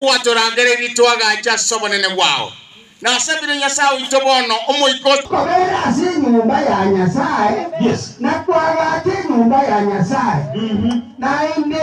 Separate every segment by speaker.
Speaker 1: Gwatorangereirie twagacha ase obonene bwao, na ase bire Nyasae oito bono, Omoika o. Kobera ase enyomba ya Nyasae, na kwagacha enyomba ya Nyasae naende.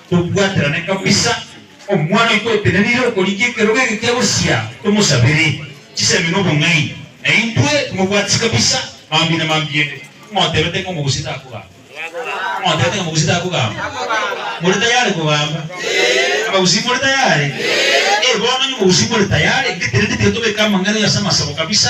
Speaker 1: Tobwaterane kabisa, omwana oito otenenire okorigia ekerogo eke kia bosia, tomosabere chisemi nobong'aini, na intwe timobwatisi kabisa mambia na mambia ende. Ng'otebete ng'a omogusii takogamba? Ng'otebete ng'a omogusii takogamba? More tayari kogamba? Abagusii more tayari? Ee, bono onye omogusii more tayari, ngetenena tiga tobeke amang'ana ase amasabo kabisa,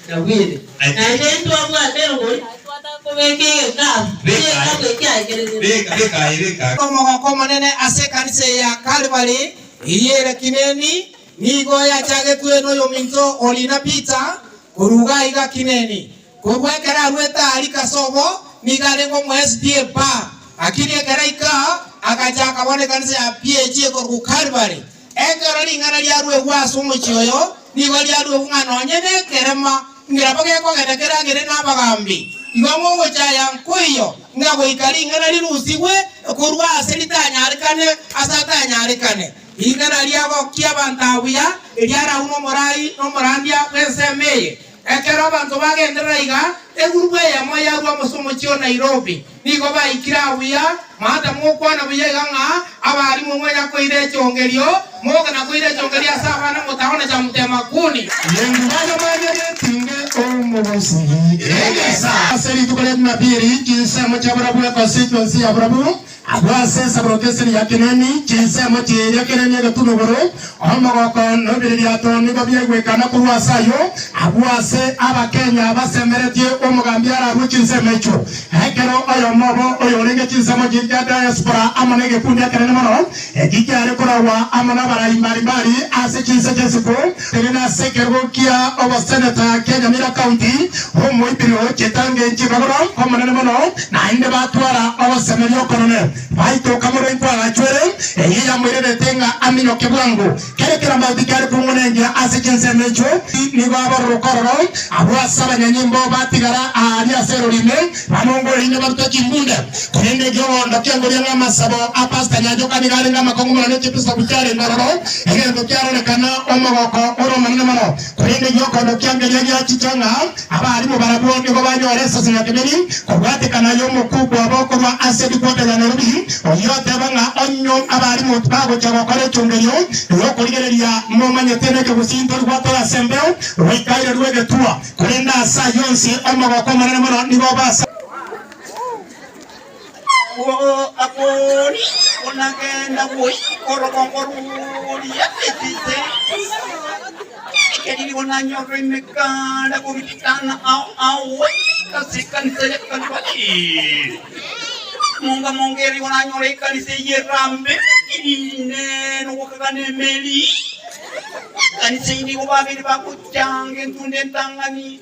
Speaker 1: Nabwire, naende intwe abwate engori aye twataka kobeka egekabu, egekabu eke aikereretie. Omogoko omonene ase ekanisa eye ya Kalvari eyio ere Kineni nigo yachagetwe noyominto o riina Peter, koruga aiga Kineni. Korwa ekero arwete Aariki ase obo, nigo arenge omoSDA, Bar, lakini ekero aika, agacha akabona ekanisa ya PAG ekorokwa Kalvari, Ekero ring'ana riaruegwa ase omochie oyo, nigo riaruegwa ng'a nonye nekerema ngeraba gekogenda keragere nabagambi, igo ngogocha aya nkoiyo ng'a goika ring'ana rirusigwe korwa ase ritanyarekane ase atanyarekane. Ring'ana riagokia abanto aa buya, eriaraunwa omorai nomorandia bw'ensemo eye. Ekero abanto bagenderera iga, egurubu eyemo yarua amo ase omochie o Nairobi. Nigo baikire aa buya, maata mokwana buya iga ng'a abaalimu mwenya koira echongerio, moke na koira echongerio ase abana motago na chamutema kuni. Yesu agakenya getinge omobosigi egesa. Ase rituko ria Jumapili, chinsemo chia burabu, egose chionsi ya burabu. Agwo ase ensaboroko esiri ya Kenani, chinsemo chiria Kenani egati n'oboro, omogoko nobiririato nigo biaigwekana korwa ase ayio. Agwo ase Abakenya basemeretie omogambi ararue chinsemo echio, ekero oyomo obo oyorenge chinsemo chiria chia diaspora amo negekundi ekenene mono, Eki kiare koragwa amo n'abarai mbari mbari ase chinse chi'isiko, erinde ase ekerogo kia oboseneta kia Nyamira County, omoibiri o chitangi chibagoro omonene mono, naende batwara ogosemeria okonene, baitoka morenko agachwere, eyio yamoirenete ng'a aminyoke bwango. Kere keramauti kiare kwong'wana engira ase chinsemo echio, nigo abororwe kororo abwo ase abanyanyimbo batigara aaria ase erori ime, bamongore ime barute chimbunde. Korende egeogondo kiangoria ng'a amasabo a Pastor Nyanchoka nigo arenge amakong'u mono ne chiebisaku chiarenge ororo, egento kiarorekana omogooko ore omonene mono. Korende gi'okobokia ngeria giachicha ng'a abaarimu barabwo nigo banyore esese ya keberiri kobwatekana y'omokuuku obo korwa ase ripoti ya Nairobi, oyio oteeba ng'a onye abaarimu tibagochia gokora echungerio y'okorigereria momanyete nekegosinto igwatore ase embeo goika irerwe egetuo, korende ase ayio onsi omogoko omonene mono nigo obe ase. Akori konagenda goika orogongo roria Efese, erio konanyorwa emekanda gobitikana ao awe ase ekanisa ya Kalvari. Monga monga erio konanyora ekanisa eyio erambe erinde nogokagana emeeri. Ekanisa eyio nigo babere bagochanga entunda entang'ani.